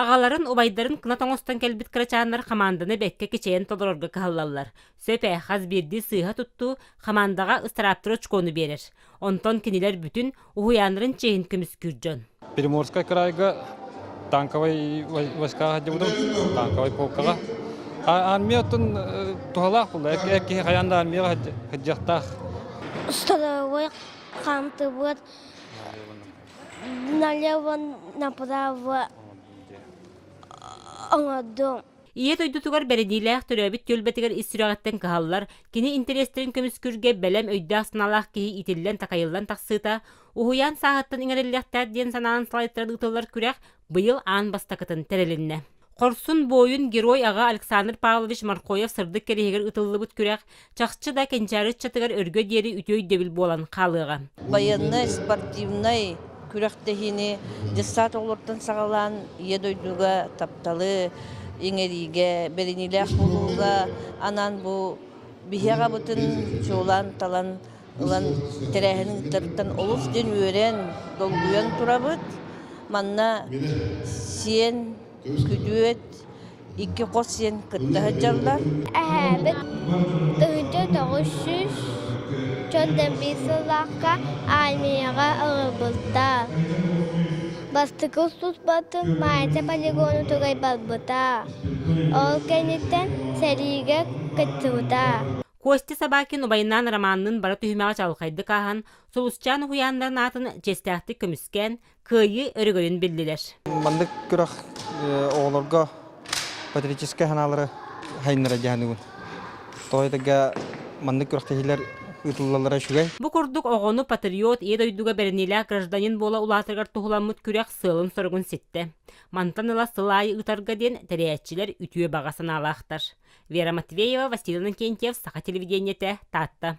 Аҕаларын, убайдарын кына тоҥостон кэлбит кырачааннар хамаанданы бэккэ кичэйэн толорорго кыһаллаллар. Сөп ээ, хас биирдии сыыһа туттуу хамаандаҕа ыстырааптары очкону биэрэр. Онтон кинилэр бүтүн уһуйааннарын чиэһин көмүскүүр дьон. Приморскай кыраайга танковай войскаҕа сылдьыбытым, танковай полкаҕа. Армия оттон туһалаах буолла. Эр киһи хайаан да армияҕа сылдьыахтаах. Усталабыт, хамтыбыт налево направо оҥордум Ийэ дойдутугар бэриниилээх төрөөбүт түөлбэтигэр ис сүрэҕиттэн кыһаллар, кини интэриэстэрин көмүскүүргэ бэлэм өйдөөх-санаалаах киһи итиллэн-такайыллан тахсыыта, уһуйаан сааһыттан иҥэриллиэхтээх диэн санаанан салайтаран ыытыллар күрэх быйыл аан бастакытын тэрилиннэ. Хорсун буойун герой-аҕа Александр Павлович Маркоев-Сырдык кэриэһигэр ытыллыбыт күрэх чахчы да кэнчээри ыччатыгар өргө диэри үтүө өйдөбүл буолан хаалыаҕа. Байыаннай, спортивнай күрэхтэһиини детсад оҕолортон саҕалаан Ийэ дойдуга тапталы иҥэриигэ, бэриниилээх буолууга анаан бу биһиэҕэбытын чуолаан талан ылан тэрээһин ыытарыттан олус диэн үөрэн, долгуйан турабыт. Манна сиэн, күдүөт, икки хос сиэн кытта сылдьаллар. Эһээбит Тыһыынча тоҕус сүүс чот дэмбии сыллаахха армияҕа ылбыта. Бастакы устуспатын Маайта полигону тугай барбыта. Ол кэнниттэн сэриигэ кыттыбыта. Костя Собакин убайнаан Романныын бара түһүмэҕи чаҕылхайдык ааһан, Сулусчаан уһуйааннарын аатын чиэстээхтик көмүскээн, кыайыы өрөгөйүн биллилэр. Маннык күрэх оҕолорго патриотическай санаалары сайыннара дьаһаныбын. Тоҕо этэргэ маннык күрэхтэһиилэр ыытыллаллара үчүгэй. Бу курдук оҕону патриот ийэ дойдуга бэриниилээх гражданин буола улаатарыгар туһуламмыт күрэх сыалын-соругун ситтэ. Мантан ыла сыл аайы ыытарга диэн тэрээччилэр үтүө баҕа санаалаахтар. Вера Матвеева, Василий Иннокентьев, Саха телевидениетэ, Таатта.